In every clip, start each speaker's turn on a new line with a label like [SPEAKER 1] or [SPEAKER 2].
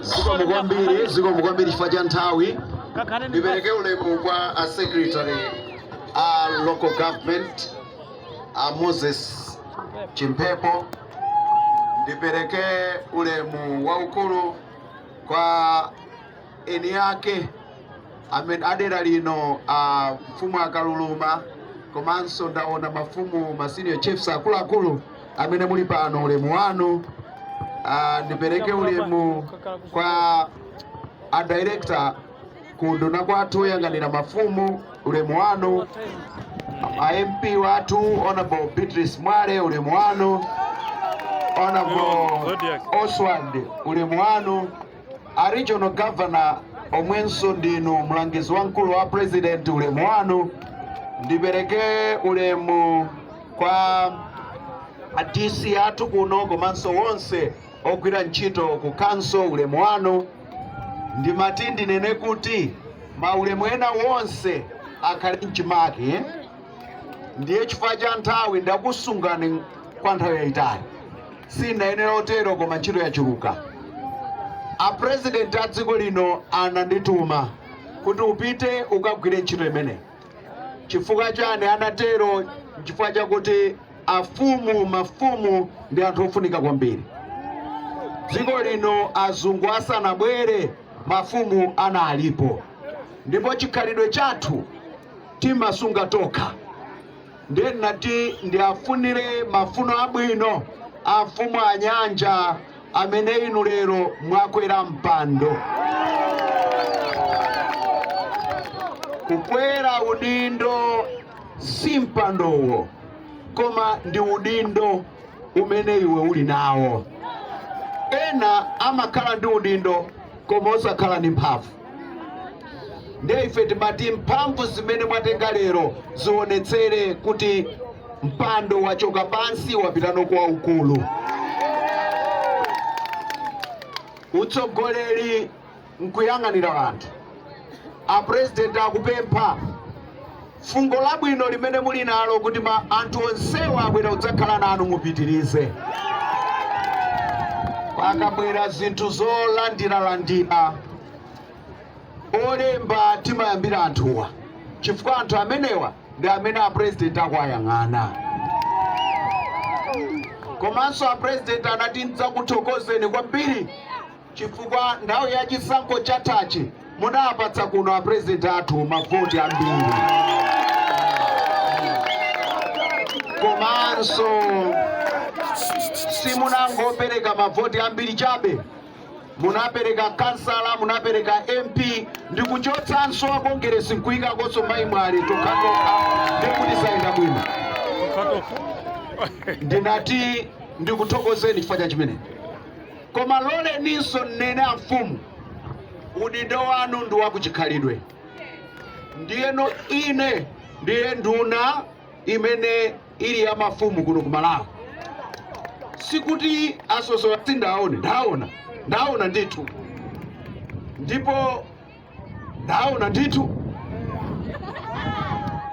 [SPEAKER 1] zikomo kwambiri zikomo kwambiri chifukwa cha nthawi ndipereke ulemu kwa a secretary a local government a moses chimphepo ndipereke ulemu waukulu kwa eni ake a dera lino a mfumu a Kaluluma komanso ndaona mafumu ma senior chiefs akuluakulu amene muli pano ulemu wanu Ah, ndipereke ulemu kwa a director ku unduna kwathu oyang'anira mafumu ulemu wanu a mp wathu honorable beatrice mwale ulemu wanu honorable Oswald ulemu wanu a regional governor omwenso ndinu mlangizi wamkulu wa president ulemu wanu ndipereke ulemu kwa a DC athu kuno komanso wonse ogwira ntchito ku khonsolo ulemu wanu ndimati ndinene kuti maulemu ena wonse akhale mchimake ndiye chifukwa cha nthawi ndakusungani kwa nthawi yayitali sindinayenera otero koma ntchito yachuluka apurezidenti a dziko lino anandituma kuti upite ukagwire ntchito imeneyi chifukwa chani anatero chifukwa chakuti afumu mafumu ndi anthu ofunika kwambiri dziko lino azungu asanabwere mafumu analipo ndipo chikhalidwe chathu timasunga tokha ndiye ndinati ndiafunire mafuno abwino a mfumu a Nyanja amene inu lero mwakwera mpando kukwera udindo si mpandowo koma ndi udindo umene iwe uli nawo ena amakhala ndi udindo koma osakhala ndi mphamvu ndiye ife timati mphamvu zimene mwatenga lero zionetsere kuti mpando wachoka pansi wapita no kwaukulu utsogoleri nkuyang'anira anthu apurezidenti akupempha fungo labwino limene muli nalo kuti ma anthu onsewa abwera kudzakhala nanu mupitirize. Pakabwera zinthu zolandiralandira olemba timayambira anthuwa chifukwa anthu amenewa ndi amene apurezidenti akuwayang'ana. Komanso apurezidenti anati ndidzakuthokozeni kwambiri chifukwa nthawi ya chisankho chathachi, munawapatsa kuno a president athu mavoti ambiri komanso simunangopereka mavoti ambiri chabe munapereka kansala munapereka mp ndi kuchotsanso a kongeresi nkuikakonso a mayi mwale tokhatokha ndikuti sayenda bwino ndinati ndikuthokozeni chifukwa cha chimene Koma loleninso nnene amfumu, udindo wanu ndi wakuchikhalidwe. Ndiyeno ine ndiye nduna imene ili ya mafumu kuno ku Malawi. Sikuti asosola sindaone, ndaona, ndaona ndithu ndipo ndaona ndithu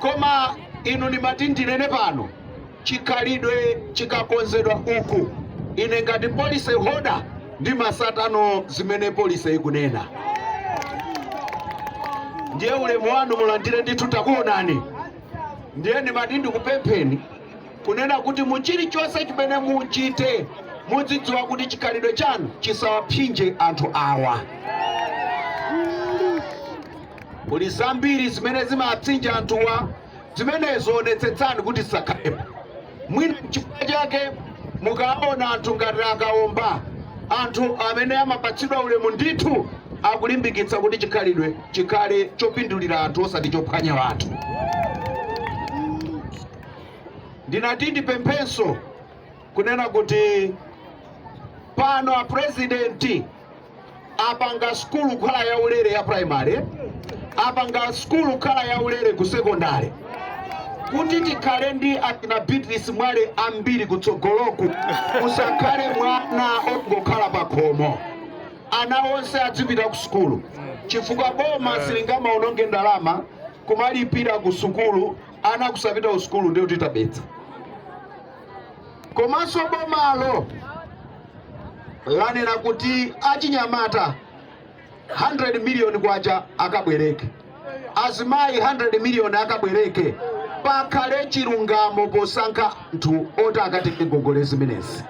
[SPEAKER 1] koma inu ndimati ndinene pano chikhalidwe chikakonzedwa uku ine ngati polise hoda timatsata zimene polise ikunena ndiye ulemu wanu mulandire ndithu takuonani ndiye ndimati ndikupempheni kunena kuti mu chilichonse chimene muchite mudzidziwa kuti chikhalidwe chanu chisawapsinje anthu awa. Kuli zambiri zimene zimapsinja anthuwa, zimenezo onetsetsani kuti zisakhalepo. Mwina chifukwa chake mukaona anthu ngati akaomba, anthu amene amapatsidwa ulemu ndithu akulimbikitsa kuti chikhalidwe chikhale chopindulira anthu osati chophwanya anthu. ndinati ndipemphenso kunena kuti pano a president apanga skulu kukhala yaulere ya primary apanga skulu kukhala yaulere ku secondary kuti tikhale ndi akina a beatrice mwale ambiri kutsogoloku kusakhale mwana ongokhala pa khomo ana onse adzipita ku sukulu chifukwa boma silingamaononge ndalama kumalipira ku sukulu ana akusapita ku sukulu ndiye kuti tabetsa, komanso bomalo lanena kuti achinyamata 100 miliyoni kwacha akabwereke azimayi 100 miliyoni akabwereke pakhale chilungamo posankha anthu oti akatenge ngongole zimenezi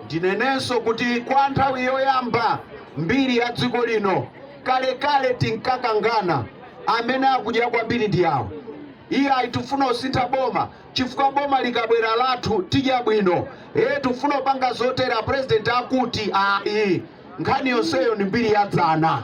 [SPEAKER 1] Ndinenenso kuti kwa nthawi yoyamba m'mbiri ya dziko lino, kalekale tinkakangana, amene akudya kwambiri ndi awa, iyayi tifuna kusintha boma chifukwa boma likabwera lathu tidya bwino, ee tifuna kupanga zotere, a President akuti, ayi nkhani yonseyo ndi mbiri ya dzana.